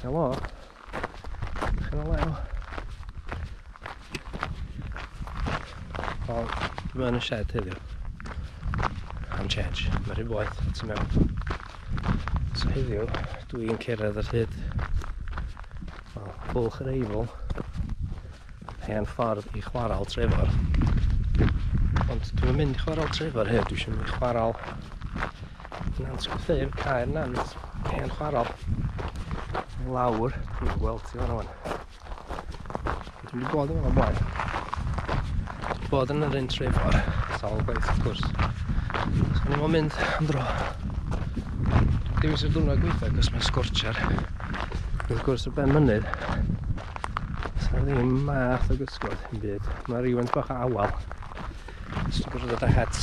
Helo. Helo. O, mae yn y shed heddiw. Am change. Mae rhyw boeth tu mewn. So heddiw, dwi'n cerdded ar hyd wel, bwlch yr eifl. Hen ffordd i chwarael Trevor. Ond dwi'n mynd i chwarael Trevor hyn, dwi eisiau mynd i chwarael Nant Gwtheu'r Caer Nant, hen chwarael. Lawr, dwi'n gweld ti fan o'n. Dwi wedi bod yn o'n blaen. Bod yn yr un Trevor, sawl gwaith wrth gwrs. So ni'n o'n mynd am dro. Dwi'n dewis y dwrnod gweitha, cos mae'n sgorchar. Wrth gwrs y ben mynydd, Sa'n un math o gysgod yn byd. Mae rhywun bach o awal. Ysgrifennu bod ddod â het.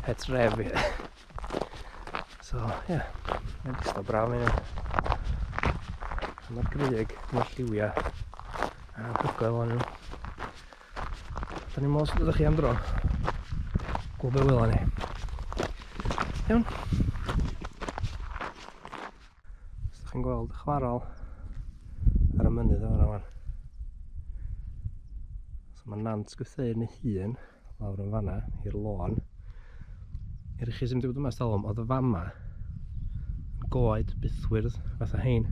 Het ref i. So, ie. Yeah. Mae'n distaw braf yn hynny. Mae'r gryg, mae'r lliwiau. A hygoel o'n nhw. Da ni'n meddwl sydd ydych chi am dro. Gwybod be wylwn ni. Iawn. Os ydych chi'n gweld y chwarel ar y mynydd o'r awan. So mae Nant Gwtheuyn ei hun lawr yn fanna i'r lôn. Er chi sy'n dweud yma stalwm, oedd y fama yn goed bythwyrdd fatha hein.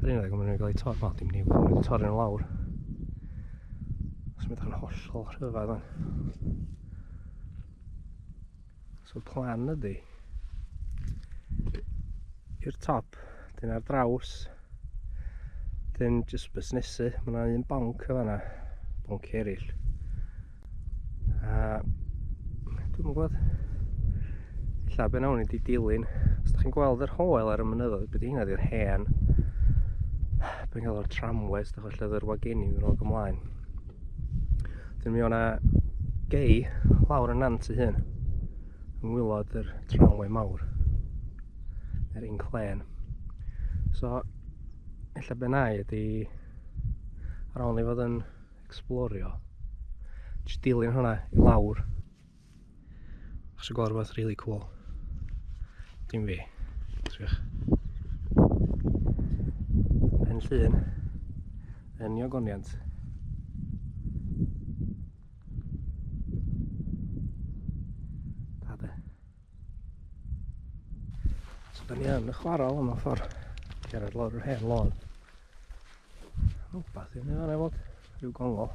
Yr un o'r mynd i'n cael ei torri, wel dim ni, mae'n mynd i'n torri yn lawr. Os mynd i'n hollol rhyfedd o'n. So plan ydy i'r top, dyn ar draws, dyn jyst busnesu, mae yna un bonc o fanna, bonc eraill. A dwi'n gwybod, illa be nawn i di dilyn, os da chi'n gweld yr hoel ar y mynyddoedd, bydd hynna di'r hen, bydd hynna o'r tramwes, da chi'n lle yr wagenin yn ôl ymlaen. Dyn mi o'na gei lawr y nant i hyn yng ngwylod yr tramway mawr yr un clen so ella be' nai ydi ar ôl ni fod yn explorio jyst dilyn hwnna i lawr Os y gorwedd really cool. Dim fi. Triwch. Yn llun. Yn niogoniant. Dade. So da ni yn y chwarel yma ffordd. Gerard lawr yr hen lôn. Rwbath i ni fan efo. Rhyw gongol.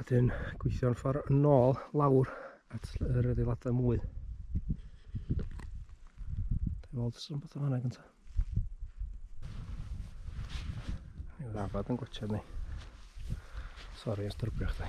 A dyn gweithio'n ffordd yn ôl lawr at yr adeiladau mwy. Dwi'n meddwl dros rhywbeth o fanna gyntaf. Mae'n rafod yn gwachod ni. Sori, ysdyrbio chdi.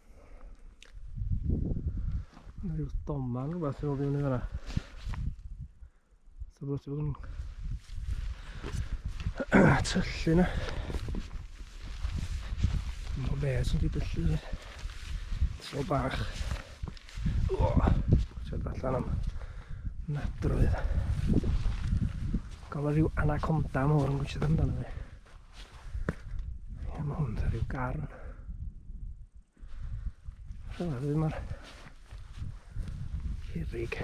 Mae rhyw doman rhywbeth sy'n fod i fyny fyna. So bod ti'n bod yn tyllu na. Mae'n fe sy'n di dyllu fi. Tro bach. O, ti'n allan am nadroedd. Gael rhyw anaconda mawr yn gwisio amdano fi. Ie, mae hwn rhyw garn. Rhyw arwydd yma. Cerrig.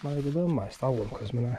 Mae wedi bod yma ers talwm, cos mae yna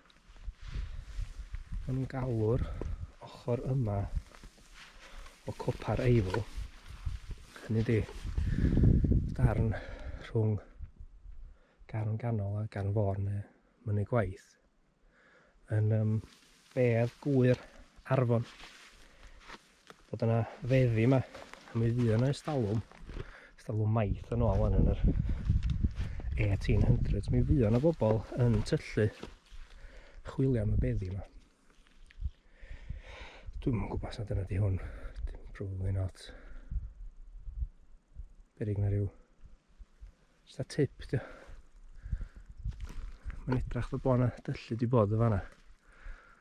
Maen nhw'n galw'r ochr yma o copa'r eifl, hynny di, darn rhwng gan ganol a gan fôr neu mynnu gwaith, yn um, bedd gwyr arfon. Bod yna feddi yma, a mi fydd yna estalwm, estalwm maith yn ôl yn yr 1800s. Mi fydd yna bobl yn tyllu chwilio am y beddi yma. Dwi'n mwyn gwybod sut yna di hwn. Probably not. Berig na rhyw. Just a tip, di. Mae'n edrach fod bod yna dyllu di bod y fanna.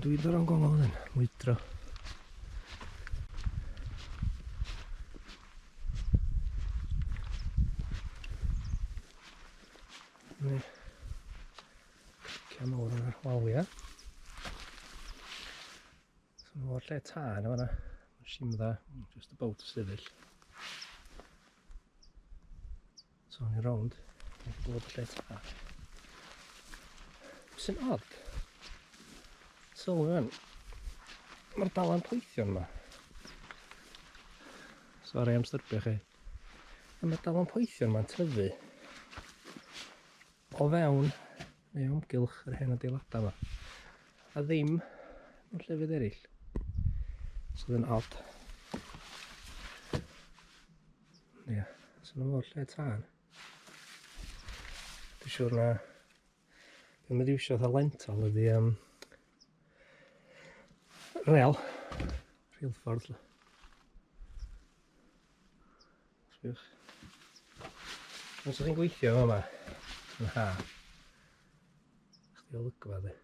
Dwi ddo o'n gofod fan hyn, mwydro. Mae cian mawr yna, walia. So mae o'r lle tân yma yna, simdda, just about sefyll. So o'n i rownd, o'n i bod lle ta. Sy'n odd. So rwan, mae'r dalan poethion yma. Sori am styrbio chi. A mae'r dalan poethion yma'n tyfu o fewn neu omgylch yr hen adeiladau yma. A ddim mewn llefydd eraill. Sydd yn odd. Ie, yeah, sy'n nhw o'r lle tân. Dwi'n siŵr na... Dwi'n mynd i wisio fatha lental ydi um, rel, rheilffordd. Sbiwch. Os ydych chi'n gweithio yma, yn ha, chdi olygfa di.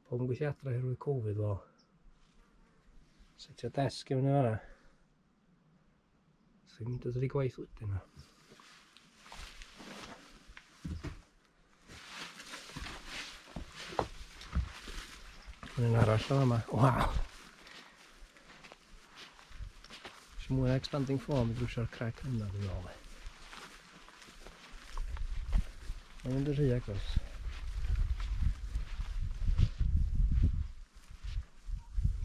Pobl yn gweithio adre oherwydd Covid, wel, setio desg i fyny fanna. So i'n mynd o ddi gwaith wedyn o. Mae'n arall o yma. Waw! Si'n mwy expanding form drwy'r crec yna dwi'n ôl. Mae'n mynd yn rhy agos.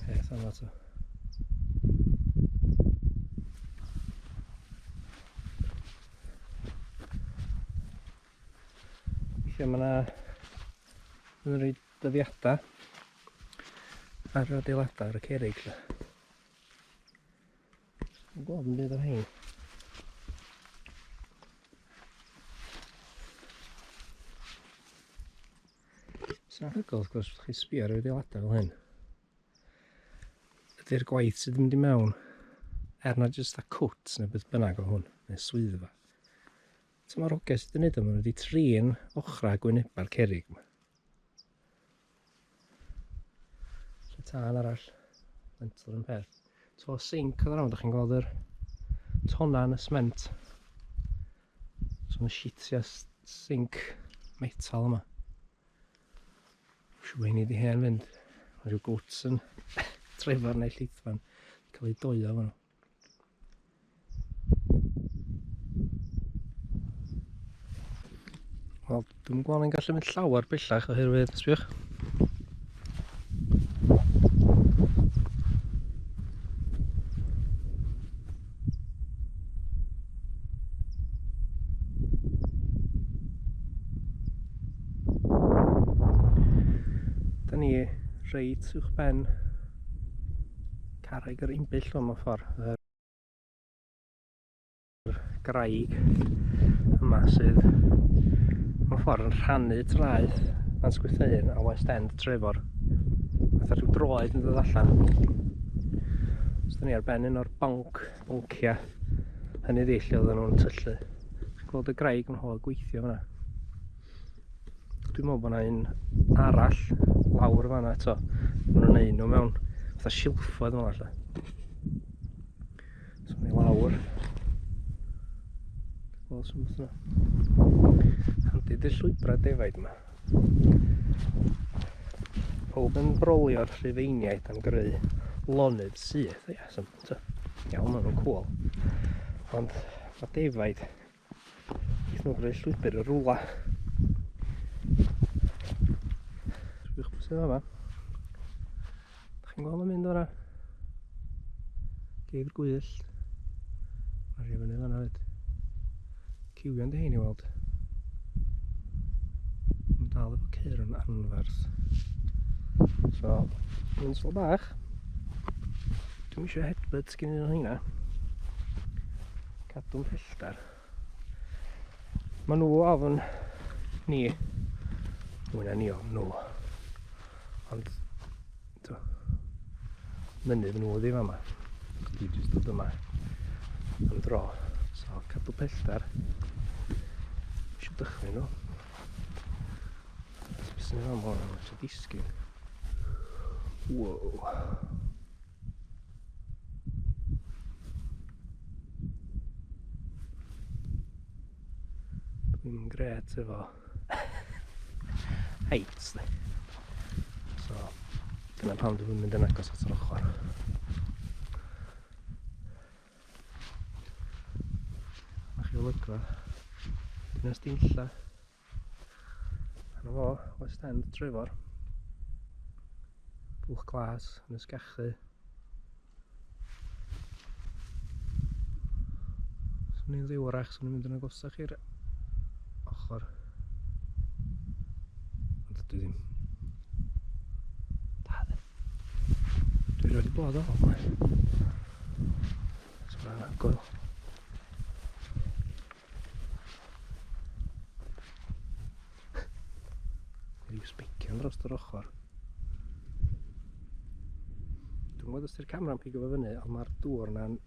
Peth yma to. Felly mae yna yn rhoi dyddiadau ar yr adeiladau ar y cerig. Lle. Mae'n gweld yn byd o'r hyn. Sa'n hygol, wrth gwrs, chi sbio ar y rheoladau fel hyn. Ydy'r gwaith sydd yn mynd i mewn, er na jyst a cwt neu beth bynnag o hwn, neu swyddfa. So mae'r ogau sydd yn neud o, maen nhw wedi trin ochrau gwynebau'r cerig yma. tân arall mental yn peth to sink oedd yna, da chi'n gweld yr tona yn y sment so yna shitio sink metal yma siw hynny di hen fynd mae rhyw gwts yn trefar neu llithfan cael ei doio fan nhw Wel, dwi'n gwybod ni'n gallu mynd llawer bellach oherwydd, sbiwch. Da ni reit uwch ben Carreg yr Imbyll o mewn ffordd. Yr graig yma sydd mewn ffordd yn rhannu traeth Nant Gwytheun a West End Trefor. Fatha rhyw droed yn dod allan. Os da ni ar ben un o'r bonc, bonciau, hynny ddi lle oedden nhw'n tyllu. Chi'n gweld y graig yn hol gweithio fyna. Dwi'n meddwl bod yna un arall lawr fan eto. Mae nhw'n neud nhw mewn fatha silffoedd fel allan. So mae lawr. Wel, sy'n beth yna. Handi dy llwybrau defaid yma. Pob yn brolio'r rhufeiniaid am greu lonydd syth. Ie, sy'n iawn, maen nhw'n cwl. Ond mae defaid Dwi'n gwneud llwybr y rwla. Dwi'n gwybod sydd yma. Da chi'n gweld yn mynd o'na? Geir gwyllt. Mae rhywun yn fanna fyd. Ciwion dy hyn i weld. Mae'n dal efo ceir yn anferth. So, yn slo bach. Dwi'n eisiau headbutt gyn un o'n hynna. Cadw'n pellter. Mae nhw ofn ni. Mwy na ni ofn nhw. Ond, do, mynydd nhw ddim yma. Dwi jyst dod yma am dro. So, cadw pellter. Eisiau dychmyg nhw. Beth sy'n ei fam o'n eisiau disgyn. Wow. Dwi'n gret efo heights de. So, dyna pam dwi'n mynd yn agos at yr ochr. Mae chi olygfa. Dyna stinlla. Yna fo, West End Trefor. Bwch glas yn ysgachu. Swn i'n ddiwrach, swn i'n mynd yn agosach i'r ochr. Ond dwi ddim. Da ddim. Dwi wedi bod o hwn. So mae'n agor. Rhyw sbicion dros yr ochr. Dwi'n gwybod os ydy'r camera'n pigo fo fyny, ond mae'r dŵr yna'n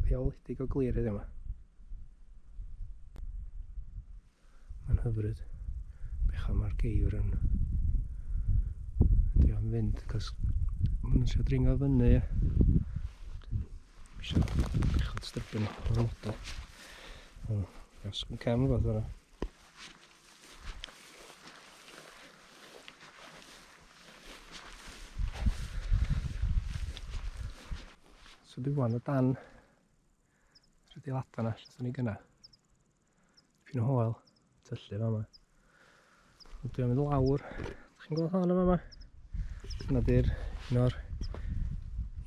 rheoledig o glir heddiw yma. Mae'n hyfryd. Bech am ar geir yn... Dwi am fynd, cos... Mae'n eisiau dringo fyny, ie. Eisiau bechod stybyn o'r moda. O, gas yn cam fath yna. So dwi wan o dan... Rydw i lata na, lle ni gyna. Pyn o hoel, tyllu fama. Ond dwi'n mynd lawr, ydych chi'n gweld hon yma? Yna di'r un o'r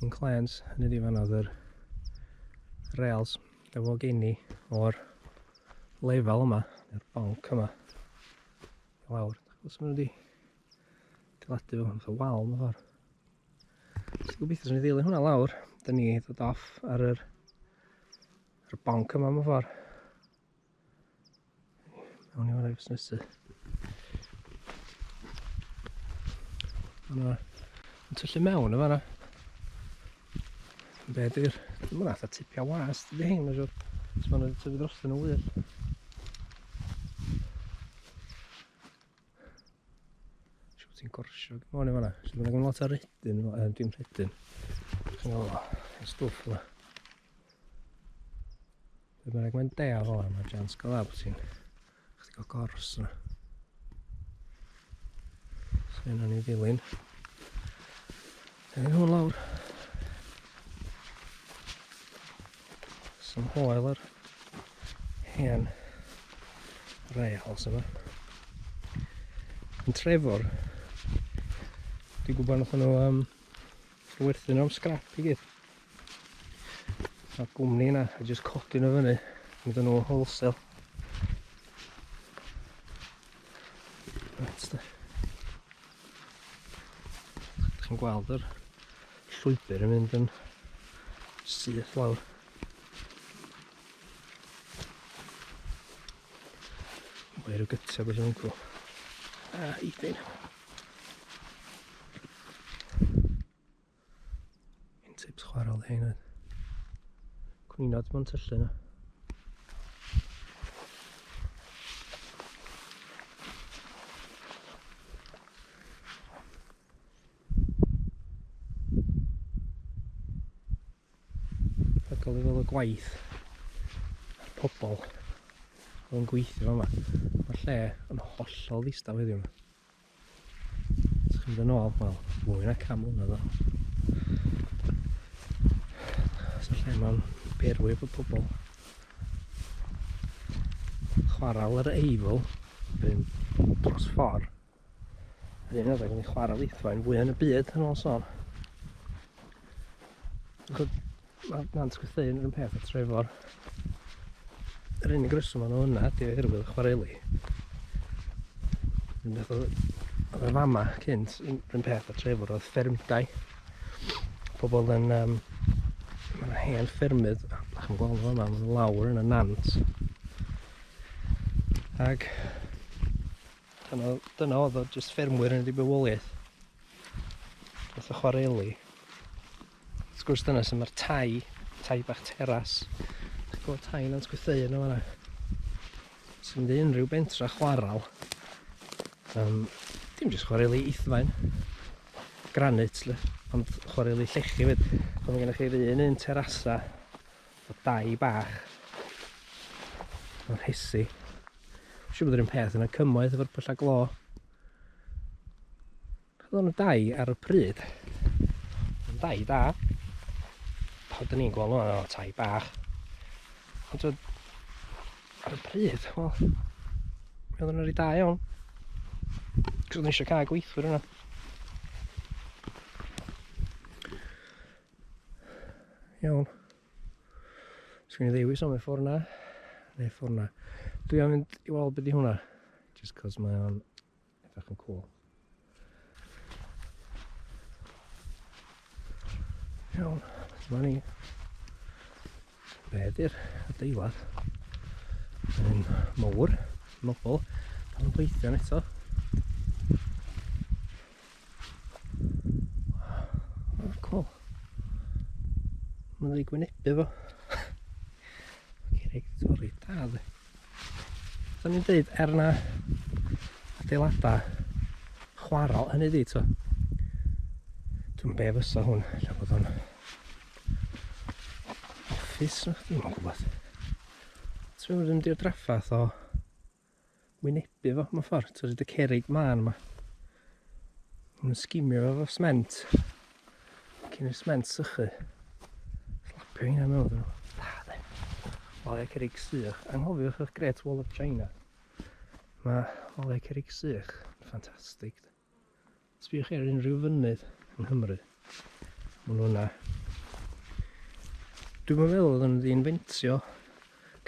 inclines, hynny di fan oedd yr rails efo geni o'r lefel yma, yr bonc yma. Lawr, os maen nhw wedi diladu fo, fatha wal mewn ffordd. Os gobeithio sy'n ei ddilyn hwnna lawr, da ni ddod off ar yr Yr bonc yma mewn ffordd. Awn i fan i'r busnesu. Yna, yn tyllu mewn yma yna. Be di'r... Dwi'n mwyn atho tipia was, dydy hyn, mae'n siwr. Os mae'n tyfu dros yn y wyl. Siw ti'n gorsio gymon i fanna. Siw ti'n lot ar rydyn, dwi'n rydyn. O, y stwff yma. Dwi'n meddwl mae'n dea fo, mae jans gyda bod ti'n chdi go gors yna. So yna ni ddilyn. Dyna nhw lawr. Some hoel yr hen rails yma. Yn Trefwr, dwi'n gwybod nath nhw um, werthu nhw am scrap i gyd. A gwmni yna, a jyst codi nhw fyny, mynd nhw wholesale. That's the... Chi'n gweld yr llwybr yn mynd yn syth lawr. Wair o gytio bod yn cw. A eithyn. Un tips chwarel hyn oedd cwnino dim ond tyllu nhw. Rhagol i fel y gwaith a'r pobol oedd yn gweithio yma. Mae'r lle yn hollol ddistaf heddiw. Sgwyd yn ôl, wel, mwy na camel na ddo. Sa'n lle mae'n berwyf y pobl. Chwarael yr eifl, rhywun dros ffordd. Yr un adeg yn ei chwarael eithfaen fwy yn y byd yn ôl son. Mae Nant Gwrtheuyn yr un peth a Trefor. Yr unig reswm o'n hwnna ydy oherwydd y chwareli. Yn beth oedd y fama cynt, yr un peth a Trefor oedd ffermdai. Pobl yn... Um, mae yna hen ffermydd, ach yn gweld fama, mae'n lawr yn y nant. Ac dyna, dyna oedd o, jyst ffermwyr yn y bywoliaeth. Oedd y chwareli. Wrth gwrs dyna sy'n mae'r tai, tai bach teras. Chi'n gweld tai Nant Gwytheu yna fanna. Sy'n mynd i unrhyw bentra chwaral. Um, dim jyst chwareli ithfaen, granit, le, ond chwareli llechi fyd. Ond mae gennych chi'r un un terasa o dai bach. Mae'n hesi. Siw bod yr un peth yna cymoedd efo'r pyllau glo. Roedd nhw dau ar y pryd. Yn dau da. Pan dyn ni'n gweld nhw'n tai bach. Ond roedd ar y pryd, wel, mi oedden nhw'n rhy da iawn. Cos oedden eisiau cael gweithwyr yna. Iawn. Sgwni ddewis am y ffordd na. Neu ffordd na. Dwi am fynd i weld beth i hwnna. Just cos mae o'n Edrych yn cool. Iawn, dyma ni. Be ydy'r adeilad? Yn mowr, nobl, cael yn gweithio'n eto. Oh, cool. Mae'n ei gwynebu fo. Cerrig torri da dde. O'n i'n dweud, er na adeiladau chwarae hynny di, to. Dwi'n be fysa hwn, lle bod o'n office na chdi, mae'n gwybod. Ti'n mynd i'r draffath o wynebu fo, mae'n ffordd, ti'n rhaid y cerig man yma. Yn sgimio fo fo sment. Cyn i'r sment sychu. Slapio hynna mewn nhw. Da, de. Olau cerig sych. Anghofiwch eich Great Wall of China. Mae olau cerig sych. Ffantastig. Sbiwch chi ar unrhyw fynydd yng Nghymru. Maen nhw yna. Dwi'n meddwl oedd nhw'n ddi-infentio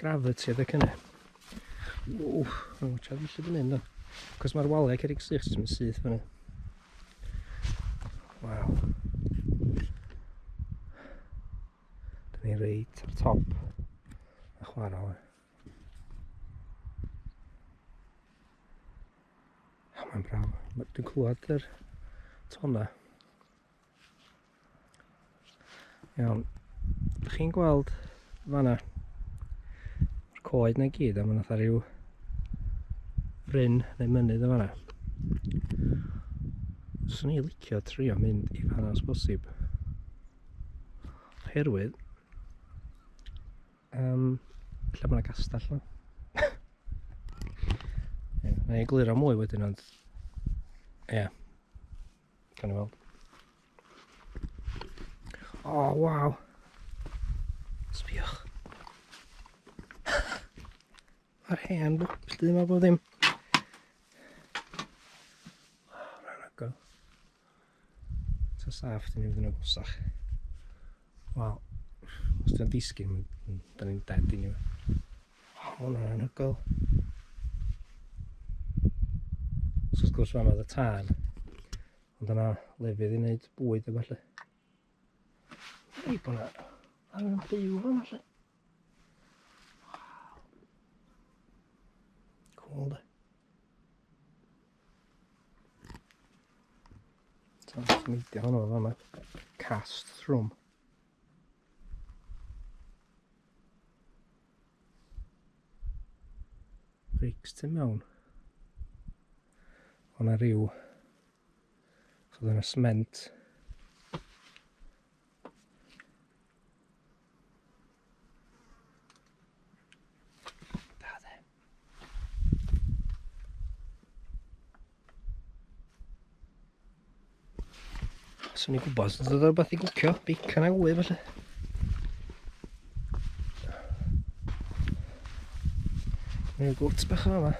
gravity adeg hynny. Ww, mae'n watcha fi lle dwi'n mynd o. Cos mae'r waliau cerig sych sy'n mynd syth fyny. Waw. Dyn ni reit ar top. A chwarae. Oh, mae'n braf. Dwi'n clywed yr tona. Iawn. Ydych chi'n gweld fanna? Mae'r coed na gyd a mae'n atha rhyw bryn neu mynydd yn fanna. Swn i'n licio trio mynd i fanna os bosib. Oherwydd Um, lle mae'n gastell yma? yeah, na i glir o mwy wedyn ond... Ie. Yeah. Gan i weld. O, oh, waw! Sbiwch. Mae'r hen bwch, bwch, yma bod ddim. Ta saff, dyn ni'n mynd yn agosach. Wel, os dyn disgyn, dyn ni'n dead i ni. O, hwn yn anhygoel. So, wrth gwrs, fama oedd y tân. Ond yna lefydd i wneud bwyd efo lle. Ei bod yna angen byw fama lle. Cool de. Ti'n smeidio hwnnw fel yma. Cast thrwm. Reics tu mewn. O'na rhyw... So dyna sment. Swn i'n gwybod os oedd rhywbeth i gwcio, bacon a wy felly. Neu gwrt bach o yma.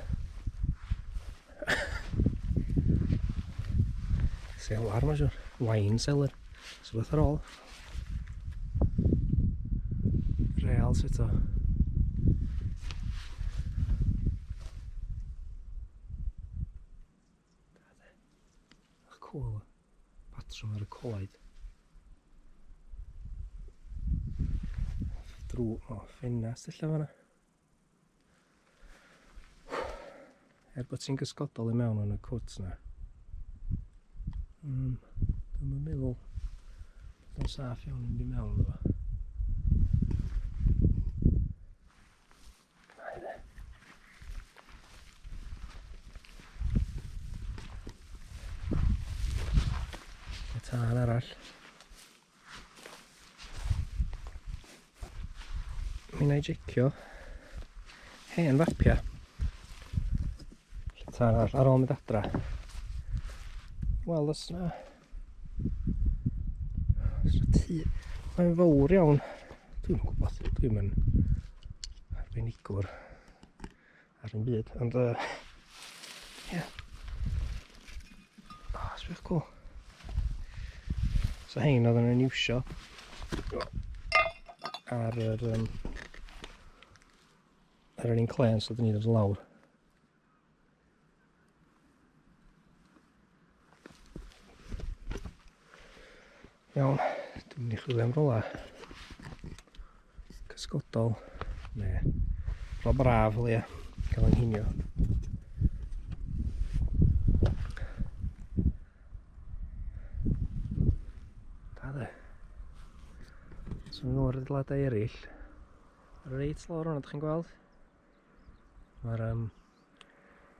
Selar mae'n siwr. Wine cellar. So beth ar ôl. Real sy'n to. Cool. Patrwm ar y coed. Drw, o, ffenast allan fanna. Er bod ti'n gysgodol i mewn yn y cwt na. Um, Dwi'n meddwl bod o'n saff iawn yn mynd i mewn iddo fo. tân arall. Mi wna i jecio hen fapiau. Lle arall ar ôl mynd adra. Wel, os na... Os na tu... Mae'n fawr iawn. Dwi'n gwybod, dwi'n mynd arbenigwr. Ar un byd, ond uh, yeah. Oh, that's really cool. So hein oedd yn iwsio ar yr um, ar yr un clen so dyn ni'n dod lawr. Iawn, dwi'n mynd i chwilio am rola cysgodol neu rola braf o leia, cael ein hinio. Da dde. So nhw o'r ddladau eraill. Reit lawr hwnna, ydych chi'n gweld? Mae'r um,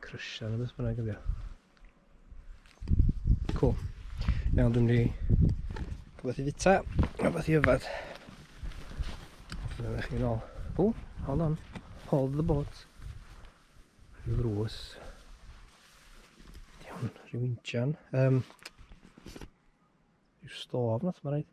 Crysia neu beth bynnag ydi o. Cool. Iawn, dwi'n mynd i rhywbeth i fita, rhywbeth i yfad. Dyna chi'n ôl. O, hold on. Hold the boat. Rhyw ddrws. Iawn, rhyw injan. Um, rhyw stof nath mae'n rhaid.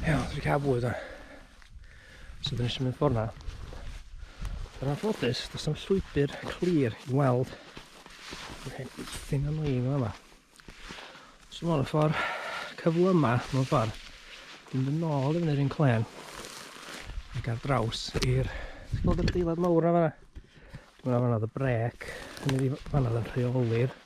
Iawn, dwi'n cael bwyd o'n. So dyn eisiau mynd ffordd na. Yr anffodus, does am llwybr clir i weld. Dwi'n hyn eithin am lein o'n yma. So mae'n ffordd cyfle yma, mae'n ffordd. Dwi'n mynd nôl i fyny'r un clen. Ac ar draws i'r... Ti'n gweld yr adeilad mawr na fanna? Dwi'n mynd fanna oedd y brec. Dwi'n mynd fanna oedd yn rheoli'r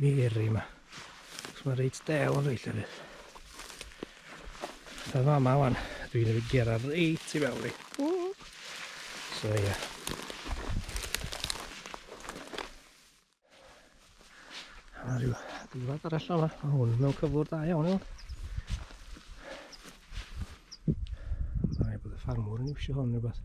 Miri yma. Os mae'n reit dew yn reit llefydd. Fe fa ma wan, dwi'n mynd i gera reit i mewn i. So ia. A rhyw ddiwedd ar allan yma. Mae hwn mewn cyflwr da iawn iawn. Mae bod y ffarmwr yn iwsio hwn rhywbeth.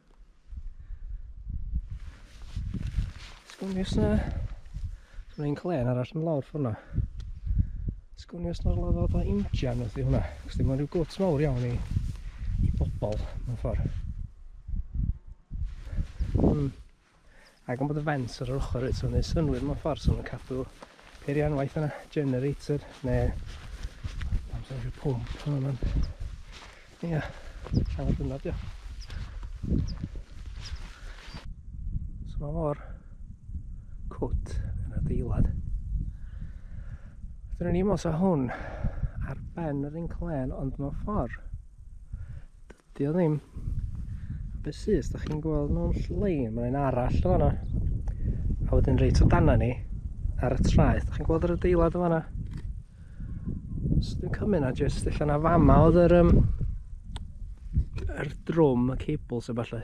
Sgwni os na... Sgwni yn clen arall yn lawr ffwrna. Sgwni os na'r lawr fath o injan wrth i hwnna. Cos dim ond rhyw gwt mawr iawn i, i bobl mewn ffordd. Hmm. Ac am bod y fens ar yr ochr reit, so wneud synwyr mewn ffordd, so nhw'n cadw peirianwaith yna, generator, neu... Amser rhyw pwmp, yna man. Ia, angen dyna dio. So mae mor cwt yn adeilad. Dyna ni mos o hwn ar ben yr inclen, ond mewn ffordd Di o ddim. A beth sydd, os da chi'n gweld mewn llai, mae'n un arall o fanna. A wedyn reit o dana ni, ar y traeth. Da chi'n gweld yr adeilad o fanna? Os dwi'n cymryd na jyst allan na fama oedd yr, um, yr drwm, y cables a falle.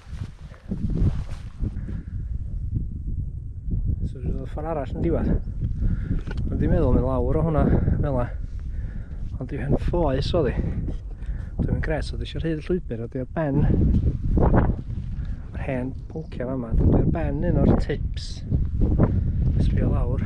So dwi'n dod ffordd arall yn diwedd. Ond dwi'n meddwl mynd lawr o hwnna, fel la. Ond dwi'n hyn ffoes o ddi. Dwi'n mynd gres, so dwi'n eisiau rhyd llwybr, a dwi'n ar ben. Mae'r hen pwnciau fama, dwi'n ar ben un o'r tips. Sbio lawr.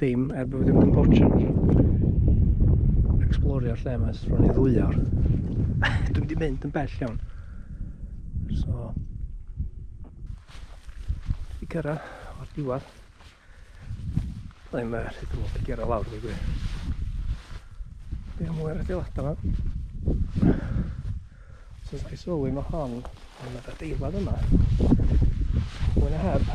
Dim, er bod ddim yn bortio. Explorio'r lle yma, sef i ddwy awr. Dwi'n di mynd yn bell iawn. So... Di cyrra o'r diwedd. Dwi'n mynd rhaid yn mynd i gyrra lawr, dwi'n gwir. Dwi'n mwyn rhaid i lata yma. So, dwi'n sylwi mae hon yn mynd adeilad yma. Mwyn a heb.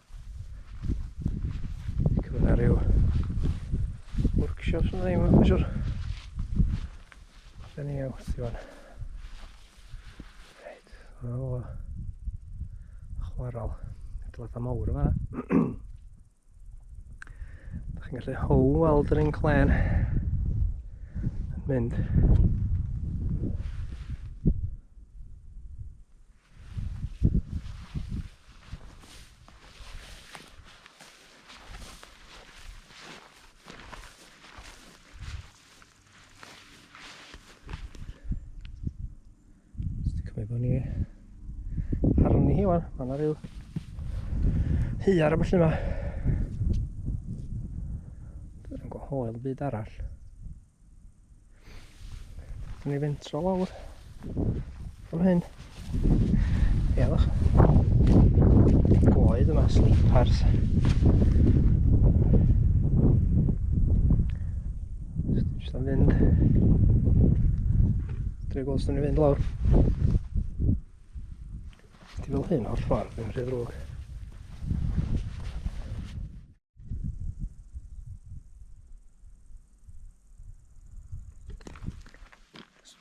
Cymru na rhyw workshops yn ddim yn siwr. Da ni iawn, ti fan. Reit, o. Chwarol. Dyleta mawr yma. Da chi'n gallu how weld yr inclen yn mynd. Mae bod ni arni hi wan, mae yna rhyw hyar a felly yma. Dwi'n gwahodd byd arall. Yn ei fentro lawr. Fan hyn. Ie, fach. Goed yma, sleepers. Just am fynd. Dwi'n gweld sy'n ei fynd lawr. Ti'n fel hyn o'r ffordd, ddim rhy ddrwg.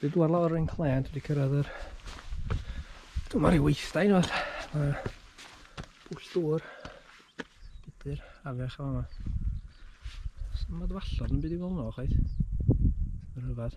Dwi dwi'n lawr yn clen, dwi wedi cyrraedd yr... Dwi'n marw weithdau nawr. Mae bwll dŵr budr afiach yma. Mae'n dwallod yn byd i fel yno, chwaith. Mae'n rhyfedd.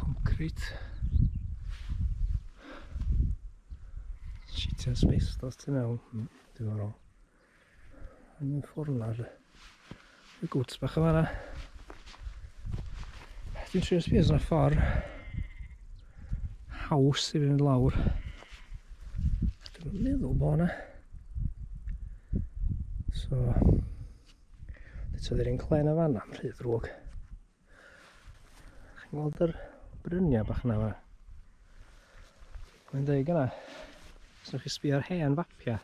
Concrit. Sitia asbestos tu mewn. Hmm, diddorol. Yn y ffwrn ar y gwts bach yma na. Dwi'n siŵr sbio yna ffordd haws i fynd lawr. Dwi'n meddwl bod yna. So, Beth oedd yr un clen o fan am rhy ddrwg. Chi'n gweld yr bryniau bach yna fan? Mae'n dweud yna, os ydych chi sbio ar hen fapiau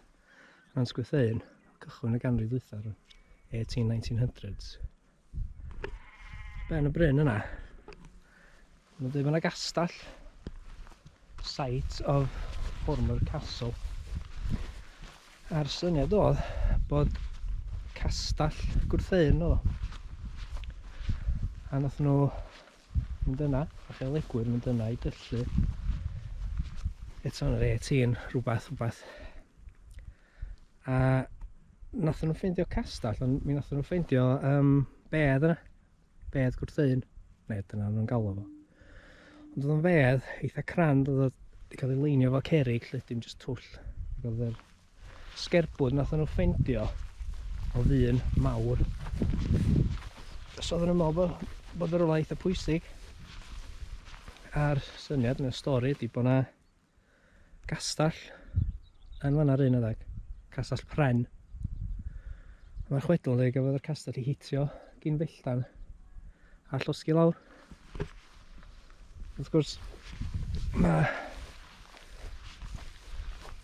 Nant Gwytheun, cychwyn y ganrif ddwythaf, 18-1900s. Ben y bryn yna, Mae'n dweud mae yna gastell. Site of former castle. A'r syniad oedd bod castell gwrtheuyn o. A nath nhw mynd yna, a chael egwyr mynd yna i gyllu. Eto yn yr 18, rhywbeth, rhywbeth. A nath nhw ffeindio castell, ond mi nath nhw ffeindio um, bedd yna. bedd gwrtheuyn, neu dyna nhw'n galw fo. Ond oedd o'n fedd eitha crand, oedd o'n wedi cael ei leinio fo cerig, lle dim jyst twll. Ac oedd yr sgerbwd nath nhw ffeindio o ddyn mawr. Os oedd nhw'n meddwl bod, bod yr ola eitha pwysig, a'r syniad yn y stori ydy bod yna Gastell. Yn fan 'na'r un adeg. Castell Pren. Mae'r chwedl yn dweud gafodd yr castell i hitio gyn felltan a llosgi lawr. Wrth gwrs, mae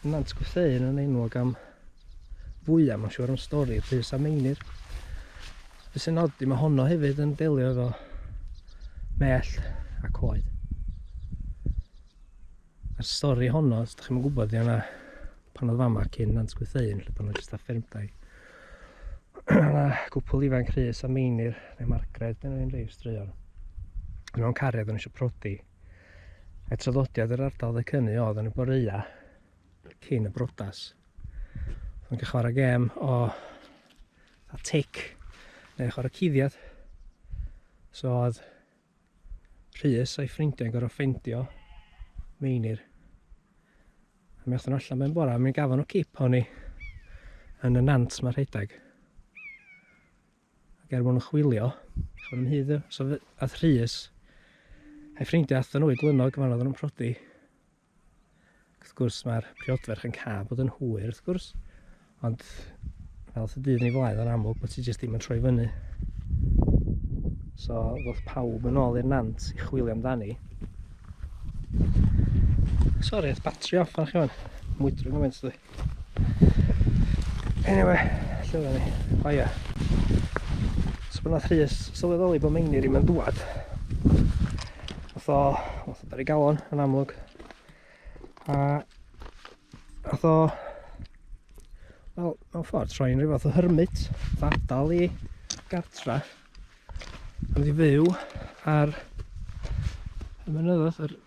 Nant Gwytheun yn enwog am fwyaf, mae'n siŵr am stori Rhys a Meinir. Be sy'n od i mae honno hefyd yn delio efo mell a coed. Yr stori honno, os ydych chi'n gwybod, ydy yna pan oedd fama cyn Nant Gwytheuyn, lle pan oedd jyst a ffermdai. yna cwpl ifanc Rhys a Meinir, neu Margaret, dyn nhw'n rei straeon. Yn o'n cariad yn eisiau prodi. A traddodiad yr ardal dde cynu oedd yn y boreia cyn y brodas. Ond cael chwarae gem o a tic neu chwarae cuddiad. So oedd Rhys a'i ffrindiau'n gorfod ffeindio Meinir. A mi allan allan mewn bora, mi'n gafon o cip o'n i yn y nant mae rhedeg. Ac er mwyn chwilio, chwn yn hyd, so ath Rhys a'i ffrindiau athyn nhw i glynog, mae'n oedd nhw'n prodi. Wrth gwrs, mae'r priodferch yn cael bod yn hwyr, wrth gwrs. Ond, fel y dydd ni flaen, yn amlwg bod ti jyst ddim yn troi fyny. So, ddoth pawb yn ôl i'r nant i chwilio amdani. Sori, oedd batri off arch iwan. Mwydro gymaint dwi. Anyway, lle oedden ni? O oh, ia. Yeah. So bod nath Rhys sylweddoli bod Meinir i'n dŵad. Oedd o, oedd o dar i galon yn amlwg. A oedd o, wel, mewn ffordd troi'n rhyw fath o hermit, ddadal i gartra. Ond i fyw ar y mynyddodd, yr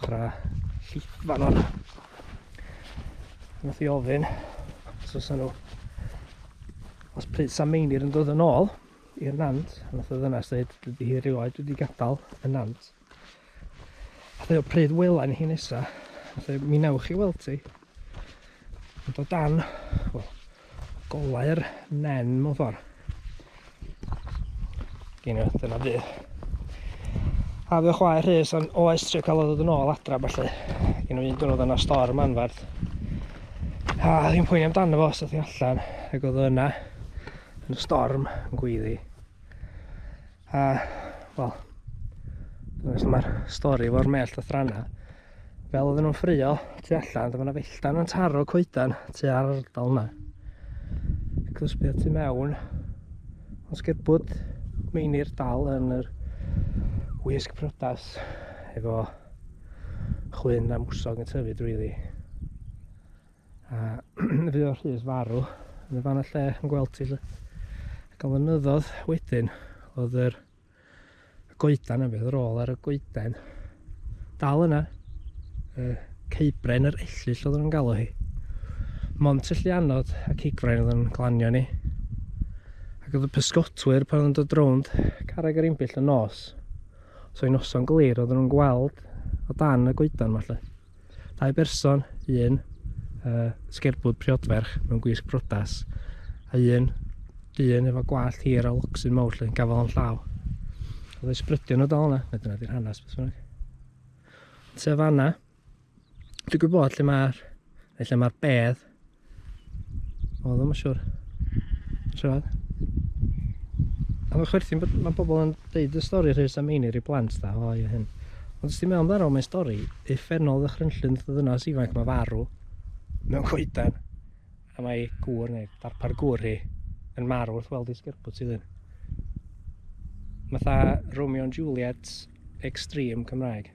chwarae llith fan o'n. Nath i ofyn os oes nhw os pryd Sam Meinir yn dod yn ôl i'r nant, a nath o ddynas dweud, dydy hi rioed wedi gadael y nant. A dweud, pryd wela ni hi nesa? A dweud, mi newch chi weld ti. Ond o dan, wel, golau'r nen mewn ffordd. Gyn nhw, dyna bu. A fe chwae rhys o'n oes trio cael o ddod yn ôl adra felly. Gyn nhw un dwrnod yna storm anfarth. A ddim pwyni amdano fo, seth i allan, ac oedd yna yn y storm yn gweiddi. A, wel, os mae'r stori efo'r mellt a thranna, fel oedden nhw'n ffrio tu allan, dyma yna felltan yn taro coedan tu ar ardal yna. Cysbio tu mewn, os gerbwyd meinir dal yn yr wisg prodas efo chwyn a mwsog yn tyfu drwyddi. A fi o Rhys farw, yn y fan y lle yn gweld ti. Ac o'n fynyddodd wedyn, oedd yr goedan yn fydd rôl ar y goeden. Dal yna, y ceibren yr ellill oedd yn galw hi. Mont y llianod a cigfrain oedd yn glanio ni. Ac oedd y pysgotwyr pan oedd yn dod rownd carreg yr imbyll y nos. So i noson glir oedd nhw'n gweld o dan y goedan falle. Dau berson, un uh, sgerbwd priodferch mewn gwisg brodas, a un dyn efo gwallt hir a locsyn mawr lle yn gafael o'n llaw. Oedd ei sbrydion o dal yna, neu dyna di'r hanes beth bynnag. Te fanna, dwi'n gwybod lle mae'r lle mae'r bedd O, ddim yn siwr. Siwr. A mae chwerthin, mae bobl yn dweud y stori rhys am ein i'r i blant da, o ie hyn. Ond os ti'n meddwl amdano, mae'n stori effennol ddychrynllun ddynas ifanc mae farw mewn coedan. A mae gŵr neu darpar gŵr hi yn marw wrth weld ei sgerbwt i ddyn. Mae tha Romeo and Juliet extreme Cymraeg.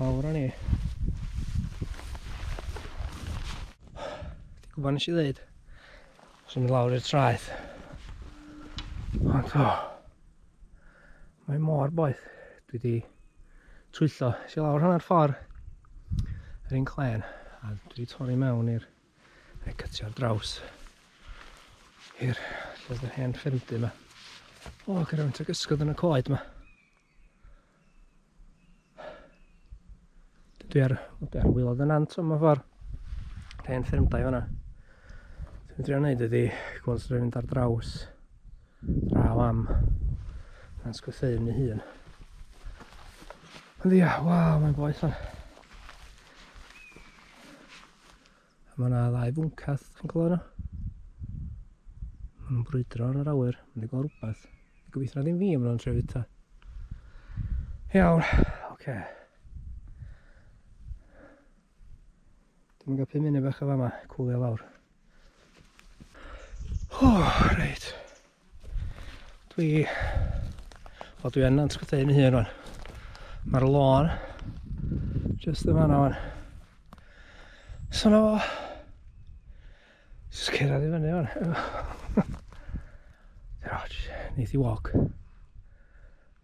Mawr o'n i. Ti'n gwybod nes i ddeud? Os i'n mynd lawr i'r traeth. Ond o. Mae mor boeth. Dwi di twyllo. Si lawr hanner ffordd. Yr un clen. A dwi di torri mewn i'r... Neu cytio'r draws. I'r... Lle oedd yr hen ffyrndy yma. O, gyda fawnt ag ysgod yn y coed yma. Dwi ar, dwi ar wylod yn ant o'n ffordd. Dwi yn ffyrmdau fanna. Dwi'n trio wneud ydi gweld sy'n mynd ar draws draw am yn sgwytheu yn ei hun. Ond ia, waw, mae'n boeth o'n. Mae yna ddau fwncad, chi'n clywed nhw? Mae nhw'n brwydro yn yr awyr, mae'n gweld rhywbeth. Gobeithio na ddim fi am nhw'n trefyd ta. Iawn, oce. Okay. Dwi'n gael pum munud bach o fama, cwlio lawr. O, oh, reit. Dwi... Wel, dwi yn antrytheu fy hun o'n. Mae'r lôn just yma na o'n. So na fo. Just cyrraedd i fyny o'n. Roch, neith i wog.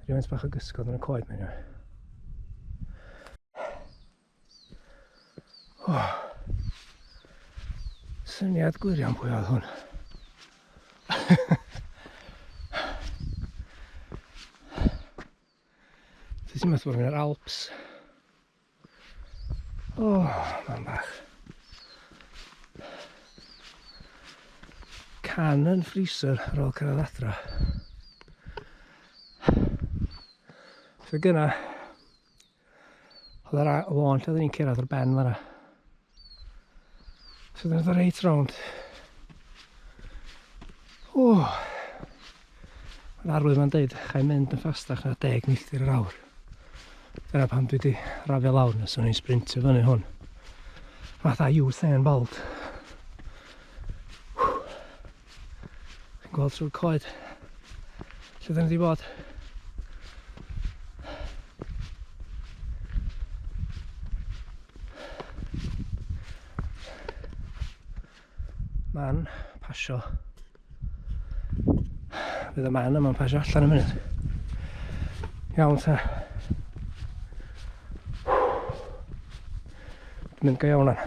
Rhywun bach o gysgod yn y coed mewn o'n. Oh. Syniad gwirion pwy oedd hwn. Ti'n sy'n meddwl yn yr Alps. O, oh, mae'n bach. Can yn freezer ar ôl cyrraedd adra. Fe gyna, Oedd yr lôn lle oeddwn i'n cyrraedd o'r ben fanna. So dyna dda reit rownd. O! Mae'r arwydd yma'n deud, chai mynd yn ffastach na 10 milltir yr awr. Dyna pam dwi wedi rafio lawr nes o'n i'n sprintio fyny hwn. Fatha Usain Bolt. Chi'n gweld trwy'r coed lle dyn ni wedi bod. Man pasio. Bydd y man yma'n pasio allan yn mynd. Iawn ta. Mynd go iawn o'n.